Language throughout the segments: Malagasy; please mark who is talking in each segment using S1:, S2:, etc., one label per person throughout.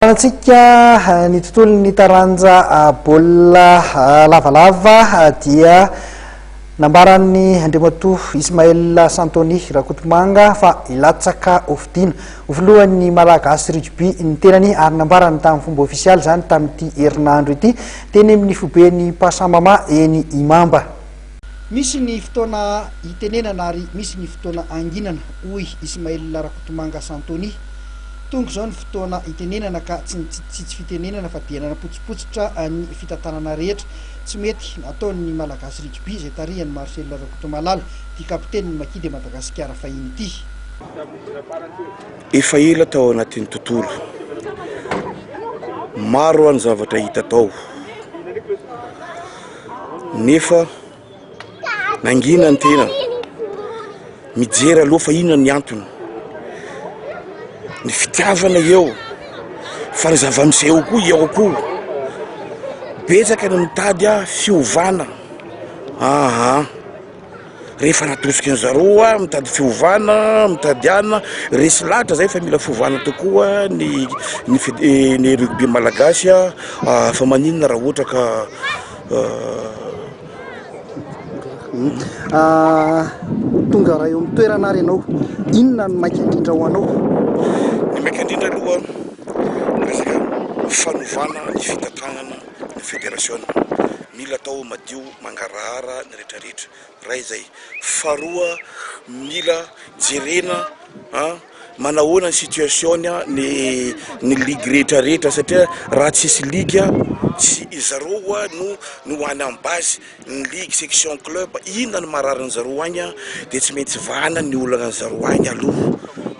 S1: Antsika ny tontolon'ny taranja baolina lavalava dia nambaran'ny Andriamatoa Ismaël Santony Rakotomanga fa hilatsaka ho fidiana ho filohan'ny Malagasy Rugby ny tenany ary nambarany tamin'ny fomba ofisialy izany tamin'ity herinandro ity teny amin'ny foiben'ny Pasamama eny Imamba. Misy ny fotoana hitenenana ary misy ny fotoana hanginana, hoy Ismail Rakotomanga Santony. Tonga izao ny fotoana hitenenana ka tsy ny tsitsitsitsy fitenenana fa dia nanapotsipotsitra ny fitantanana rehetra tsy mety nataon'ny Malagasy Rugby izay tarihan'i Marcel Rakotomalala, ity kapitenin'ny Maki de Madagasikara fahiny ity.
S2: Efa ela tao anatin'ny tontolo, maro aho ny zavatra hita tao. nefa nangina ny tena mijery aloha fa inona ny antony ny fitiavana eo fa ny zava-misy eo koa eo koa betsaka ny mitady a fiovana aa Rehefa natosiky ny zareo hoa mitady fiovana, mitady anona, resy lahatra zay fa mila fiovana tokoa ny ny ny rugby malagasy ah, fa maninona raha ohatra ka
S1: ah. Tonga raha eo amin'ny toerana ary ianao, inona no maika indrindra ho anao? Ny maika
S2: indrindra aloha ny resaka fanovana ny fitantanana ny federasiona, mila atao madio. mangarahara ny rehetra rehetra ray izay faharoa mila jerena a manahoana ny situation ny ny ligue rehetra rehetra satria raha tsisy ligue tsy izareo oa no no ho any am base ny ligue section club inona ny marary ny zareo any dia tsy maintsy vahana ny olana zareo any aloha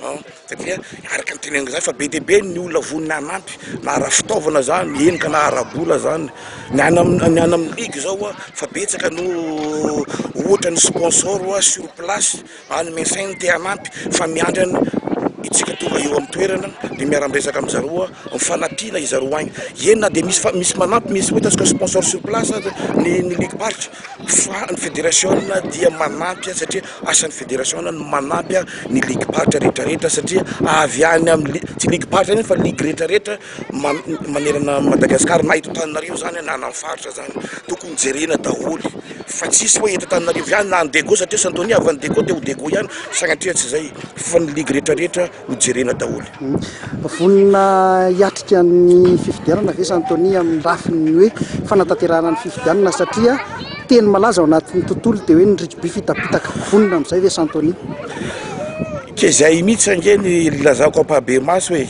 S2: an satria araka ny teneniko zany fa be dia be ny olona vonona hanampy na ara-fitaovana zany henika na ara-bola zany ny any amin'ny ny any amin'ny ligue zao an fa betsaka no ohatra ny sponsor an sur place any messain te hanampy fa miandry an itsika tonga eo amin'ny toerana dia miara-miresaka amin'ny zareo an mifanampiana i zareo any eny na dia misy fa misy manampy misy hoe ataontsika sponsor sur place aza ny ny ligue faritra Fa ny federasiona dia manampy satria asan'ny federasiona ny manampy ny ligim-paritra rehetrarehetra satria avy any amin'ny tsy ligim-paritra ihany fa ligy rehetrarehetra manerana an'i Madagasikara na eto Antananarivo izany na any amin'ny faritra izany, tokony jerena daholo fa tsy hisy hoe eto Antananarivo ihany na any Diego satria Santonia avy any Diego dia ho Diego ihany sanatria tsy izay fa ny ligy rehetrarehetra. ho jerena daholo. Vonona
S1: hiatrika ny fifidianana ve Santony amin'ny lafiny hoe fanatanterahana ny fifidianana satria teny malaza ao anatin'ny tontolo dia hoe ny rugby fitapitaka. Vonona amin'izay ve Santony?
S2: Ke izay mihitsy ange ny lazako ampahabe maso e,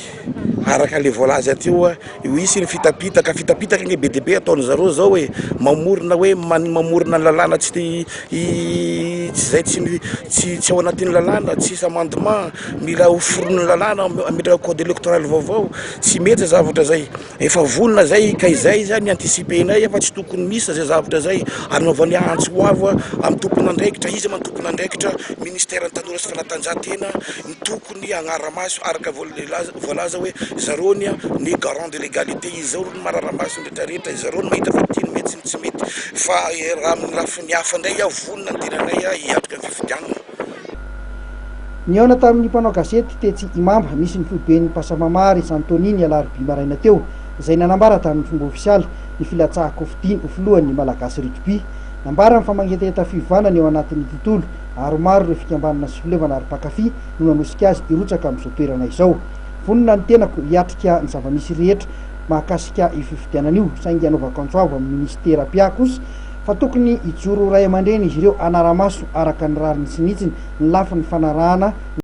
S2: araka le voalaza teo a. Io hisy ny fitapitaka, fitapitaka ange be dia be ataon-dry zareo izao e! mamorona hoe man- mamorona ny lalàna tsy te- hi- tsy izay tsy mi- tsy tsy ao anatin'ny lalàna, tsisy amendement, mila hoforonin'ny lalàna, am- ametraka code électoral vaovao, tsy mety izay zavatra izay, efa vonona izay ka izay izany anticiper-nay fa tsy tokony misy izay zavatra izay, anaovany antso ho avo amin'ny tompon'andraikitra, iza ma ny tompon'andraikitra, ministère ny tanora sy fanatanjahantena, ny tokony. ny agnara-maso araka voalaza hoe zareo ny ny garant de l'egalite izao ny marara-maso ny rehetra rehetra izareo no mahita fa ity no mety sy ny tsy mety fa raha amin'ny lafiny hafa indray aho vonona ny tenanay aho hiatrika ny fifidianana.
S1: Nihaona tamin'ny mpanao gazety tetsy Imamba misy ny foiben'ny Pasamama ry Santony ny alarobia maraina teo izay nanambara tamin'ny fomba ofisialy ny filatsahan-kofidiny ho filohan'ny Malagasy Rugby. Nambarany fa mangetaheta fiovàna ny ao anatin'ny tontolo ary maro ireo fikambanana sy fileovana ary mpankafy no nanosika azy hirotsaka amin'izao toerana izao. Vonona ny tenako hiatrika ny zava-misy rehetra mahakasika io fifidianana io, saingy hanaovako antso avo amin'ny minisitera mpiahy kosa fa tokony hijoro ray aman-dreny izy ireo hanara-maso araka ny rariny sy ny hitsiny ny lafiny fanarahana ny